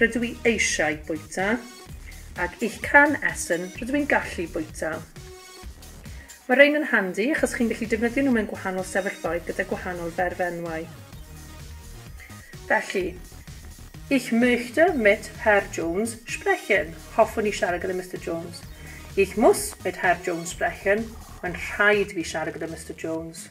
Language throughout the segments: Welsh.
Rydw i eisiau bwyta. Ag ich kann essen, rydw i'n gallu bwyta. Mae rhein yn handi achos chi'n gallu defnyddio nhw mewn gwahanol sefyllfaoedd gyda gwahanol ferfenwau. Felly, Ich möchte mit Herr Jones sprechen. Hoffwn i siarad gyda Mister Jones. Ich muss mit Herr Jones sprechen. Mae'n rhaid i fi siarad gyda Mister Jones.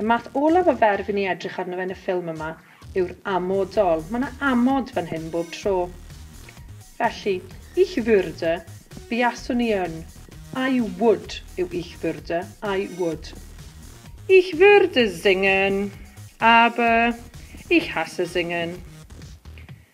Y math olaf o fer fy ni edrych arno fe yn y ffilm yma yw'r amodol. Mae 'na amod fan hyn bob tro. Felly, ich würde, buaswn i yn. I would yw ich würde, I would. Ich würde singen, aber ich hasse singen.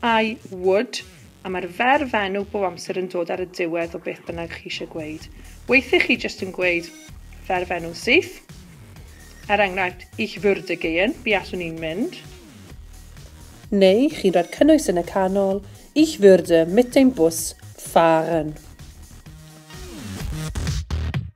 I would, a mae'r ferf enw bob amser yn dod ar y diwedd o beth bynnag chi eisiau gweud. Weithiau chi jyst yn gweud ferf enw syth. Er enghraifft, ich würde gehen, buaswn i'n mynd. Neu chi'n rhoi'r cynnwys yn y canol, Ich würde mit dem Bus fahren.